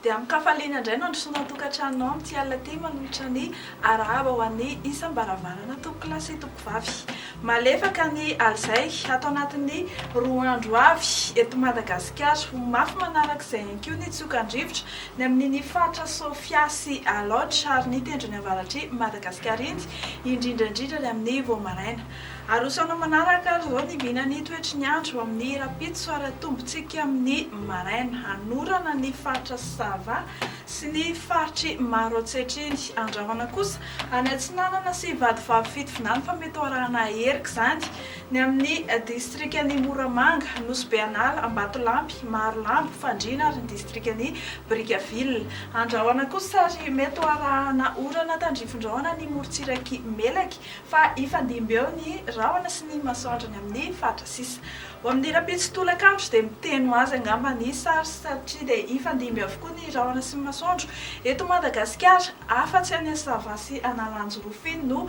Dia amin-kafaliana indray no handrosoana an-tokantrano ao amin'ity alina ity manolotra ny arahaba ho an'ny isam-baravarana tompokolahy sy tompovavy. Malefaka ny alizay ato anatin'ny roa andro avy eto Madagasikara. Ho mafy manaraka izay ihany koa ny tsiokan-drivotra ny amin'iny faritra Sofia sy Alaotra ary ny tendrony avaratr'i Madagasikara iny. indrindra indrindra ny amin'ny vao maraina. Arosoanao manaraka ary izao ny vinan'ny toetry ny andro amin'ny rahampitso ary atombontsika amin'ny maraina. Hanorana ny faritra Sava sy ny faritry Maroantsetriny. Andrahona kosa any Atsinanana sy Vadivavy Fitovinany fa mety ho arahana erika izany Ny amin'ny distrikan'i Moramanga, Nosy Be An'ala, Ambatolampy, Marolambo, Fandriana ary ny distrikan'i Brickaville. Andrahona koa sary mety ho arahana orana tandrifindrahona ny morontsiraky Melaky fa hifandimby eo ny rahona sy ny masoandro any amin'ny faritra sisa. Ho amin'ny rahampitso tolakandro dia miteny ho azy angamba ny sary satria dia hifandimby avokoa ny rahona sy ny masoandro eto Madagasikara afa-tsy any Sava sy Analanjirofy no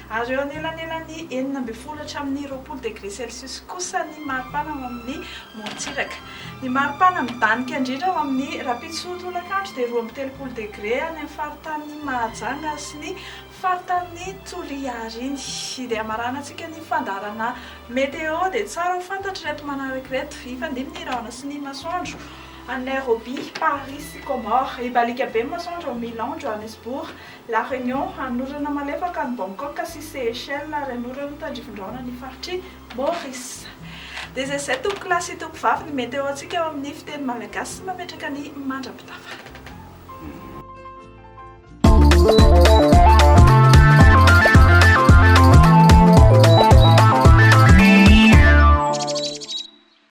ary eo anelanelan'ny enina ambin'ny folo hatramin'ny roapolo degré celsius kosa ny maripana ao amin'ny morontsiraka. Ny maripana midanika indrindra ao amin'ny rahampitso tolakandro dia roa amby telopolo degré any amin'ny faritanin'i Mahajanga sy ny faritanin'i Toliary iny. Dia hamaranan-tsika ny fandaharana météo dia tsara ho fantatra ireto manaraka ireto, hifandimby ny rahona sy ny masoandro. Any Nairobi, Paris sy Comores, hibaliaka be ny masoandro ao Milan, Johannesburg, La Réunion, hanorana malefaka an'i Bangkok sy Seychelles ary hanoro ny tandrifin-drahona ny faritr'i Maurice. Dia izay izay tompoko lahy sy tompoko vavy ny météo antsika ao amin'ny fiteny malagasy sy mametraka ny mandra-pitafa.